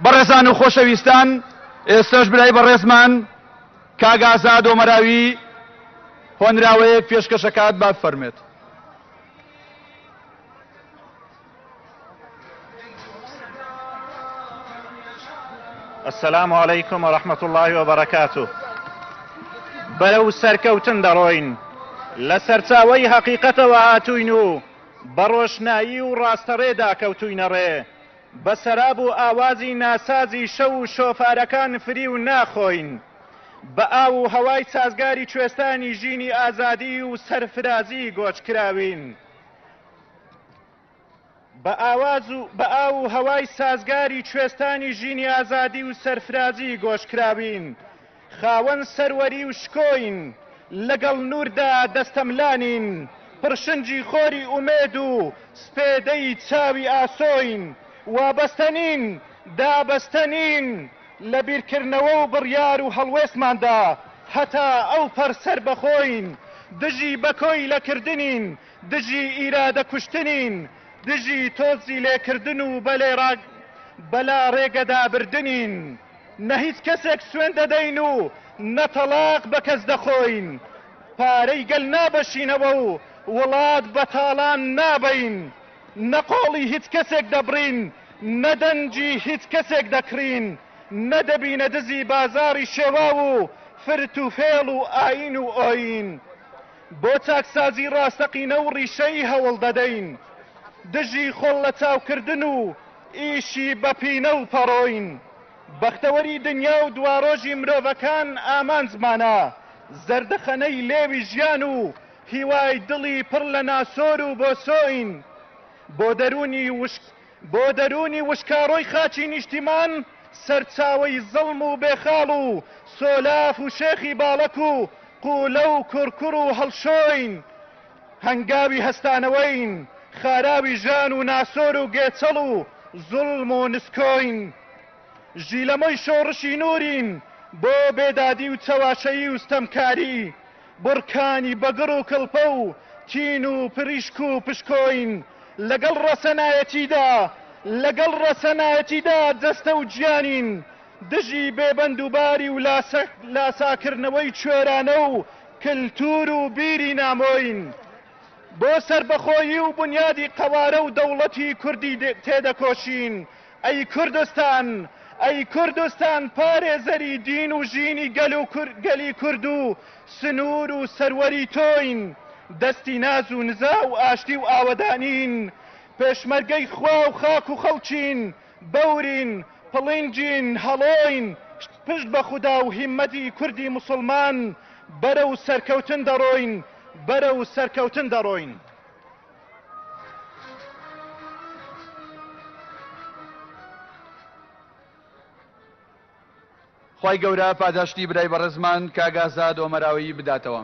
بەڕێزان و خۆشەویستان، ئێستەش برای بەڕێزمان کاک ئازاد ئۆمەراوی هۆنراوەیەک پێشکەش ئەکات، با بفەرمێت. السلام علیکم و رحمت الله و برکاته بەرەو سەرکەوتن دەڕۆین لە سەرچاوی هەقیقەتەوە هاتوین و بەڕۆشنایی و ڕاستەڕێدا کەوتوینە ڕێ بە سەراب و ئاوازی ناسازی شەو و شۆفارەکان فریو ناخۆین، بە ئاو و هەوای سازگاری کوێستانی ژینی ئازادی و سەرفرازی گۆچکراوین، بە ئاواز و بە ئاو و هەوای سازگاری کوێستانی ژینی ئازادی و سەرفرازی گۆچکراوین، خاوەن سەروەری و شکۆین، لەگەڵ نووردا دەستەملانین، پڕشنگی خۆری ئومێد و سپێدەی چاوی ئاسۆین، وابەستە نین، دابەستە نین لە بیرکردنەوە و بڕیار و هەڵوێستماندا، هەتا ئەوپەڕ سەربەخۆین، دژی بە کۆیلە کردنین، دژی ئیرادە کوشتنین، دژی تۆزی لێکردن و بە لاڕێگەدا بردنین. نە هیچ کەسێک سوێند دەدەین و نە تەڵاق بە کەس دەخۆین، پارەی گەل نابەشینەوە و وڵات بە تاڵان نابەین، نە قۆڵی هیچ کەسێک دەبڕین، نە دەنگی هیچ کەسێک دەکڕین، نە دەبینە دزی بازاڕی شێواو و فرت و فێڵ و ئایین و ئۆیین. بۆ چاکسازی ڕاستەقینە و ڕیشەیی هەوڵ دەدەین. دژی خۆڵ لەچاوکردن و ئیشی بە پینە و پەڕۆین بەختەوەری دنیا و دوارۆژی مرۆڤەکان ئامانجمانە، زەردەخەنەی لێوی ژیان و هیوای دڵی پڕ لە ناسۆر و بۆسۆین بۆ دەروونی وشک بۆ دەروونی وشکاڕۆی خاکی نیشتیمان سەرچاوەی زڵم و بێخاڵ و سۆلاف و شێخی باڵەک و قوولە و کوڕکوڕ و هەڵشۆین هەنگاوی هەستانەوەین، خاراوی ژان و ناسۆر و گێچەڵ و زوڵم و نسکۆین. ژیلەمۆی شۆڕشی نوورین بۆ بێدادی و چەواشەیی و ستەمکاری، بڕکانی بەگڕ و کڵپە و تین و پریشک و پشکۆین. لەگەڵ ڕەسەنایەتیدا، لەگەڵ ڕەسەنایەتیدا جەستە و گیانین، دژی بێبەندوباری و لاساکردنەوەی کوێرانە و کلتور و بیری نامۆین بۆ سەربەخۆیی و بنیادی قەوارە و دەوڵەتی کوردی تێدەکۆشین ئەی کوردستان ئەی کوردستان پارێزەری دین و ژینی گەل و گەلی کورد و سنوور و سەروەری تۆین دەستی ناز و نزا و ئاشتی و ئاوەدانین پێشمەرگەی خوا و خاک و خەڵکین بەورین، پڵینجین، هەڵۆین، پشت بە خودا و هیمەتی کوردی موسڵمان بەرەو سەرکەوتن دەڕۆین، بەرەو سەرکەوتن دەڕۆین. خوای گەورە پاداشتی برای بەڕێزمان کاک ئازاد ئۆمەراوەیی بداتەوە.